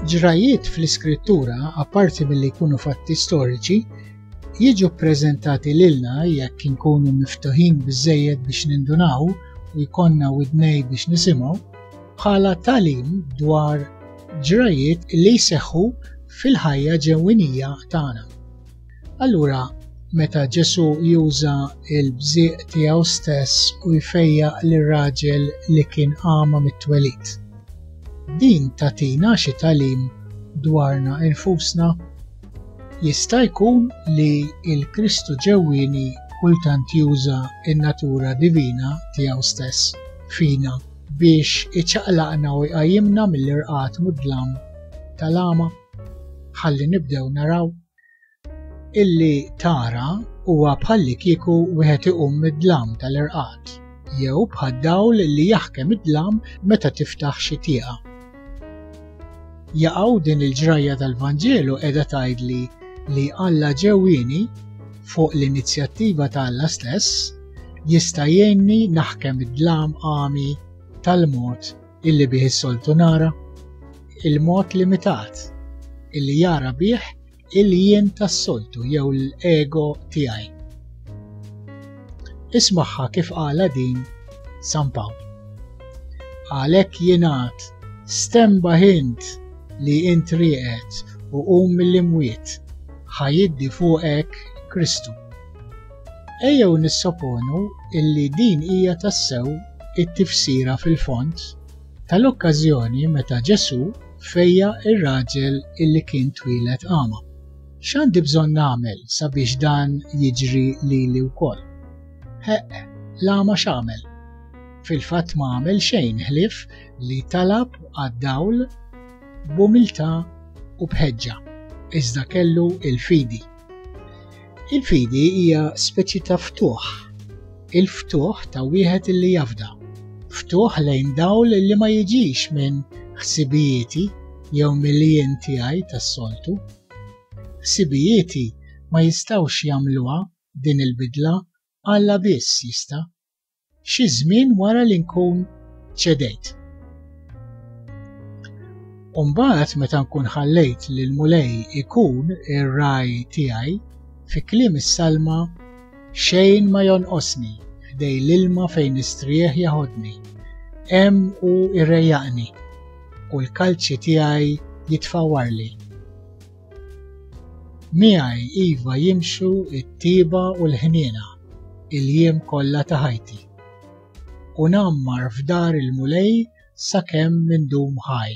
Ġrajiet fl-iskrittura, apparti milli jkunu fatti storiċi, jiġu ppreżentati lilna jekk inkunu miftuħin biżżejjed biex nindunaw u jkollna widnej biex nisimgħu bħala tagħlim dwar ġrajjiet li jseħħu fil-ħajja ġewwinija tagħna. Allura, meta Ġesù juża l-bżieq tiegħu stess u jfejjaq lir-raġel li kien għama mit-twelid. Din tatina xi talim dwarna infusna? Jista' jkun li l-Kristu ġewwieni kultant juża n-natura divina tiegħu stess fina biex iċaqlaqna u jqajjimna mill-irqad mudlam tal-għama ħalli nibdew naraw. Illi tara huwa bħallikieku wieħed iqum mid-dlam tal-irqad jew bħad-dawl li jaħkem id-dlam meta tiftaħ xi tieqa. Jaqgħu din il-ġrajja tal-Vanġelu qiegħda tgħidli li Alla ġewwieni fuq l-inizjattiva ta' Alla stess jista' jgħinni naħkem id-dlam għami tal-mod illi bih is-soltu nara, il-mod limitat illi jara bih il-jien tas-soltu jew l-ego tiegħi. Ismaħħa kif qala din San Pawl. Għalhekk jingħad stemba ħint li int rieqed u qum mill-imwiet ħajiddi fuqek Kristu. Ejjew nissoponu illi din hija tassew it-tifsira fil-fond tal-okkażjoni meta Ġesù fejja' r-raġel illi kien twieled agħma. X'għandi bżonn nagħmel sabiex dan jiġri lili wkoll? Ħeqq, l-agħma x'għamel? Fil-fatt ma għamel xejn ħlief li talab għad-dawl b'umiltà u b'ħeġġa, iżda kellu l-fidi. Il-fidi hija speċi ta' ftuħ. Il-ftuħ ta' wieħed li jafda. Ftuħ lejn dawl li ma jiġix minn ħsibijieti jew mill-jien tiegħi tas-soltu. Ħsibijieti ma jistgħux jagħmluha din il-bidla Alla biss jista'. xi żmien wara li nkun ċedejt. U mbagħad meta nkun ħallejt li l-Mulej ikun ir-raj tiegħi, fi kliem is-salma, xejn ma jonqosni, ħdej l-ilma fejn nistrieħ jaħodni, hemm hu irrejjaqni, u l-kalċi tiegħi jitfawwarli. Miegħi iva jimxu t-tieba u l-ħniena il-jiem kollha ta' ħajti, u ngħammar f'dar il-Mulej sakemm indum ħaj.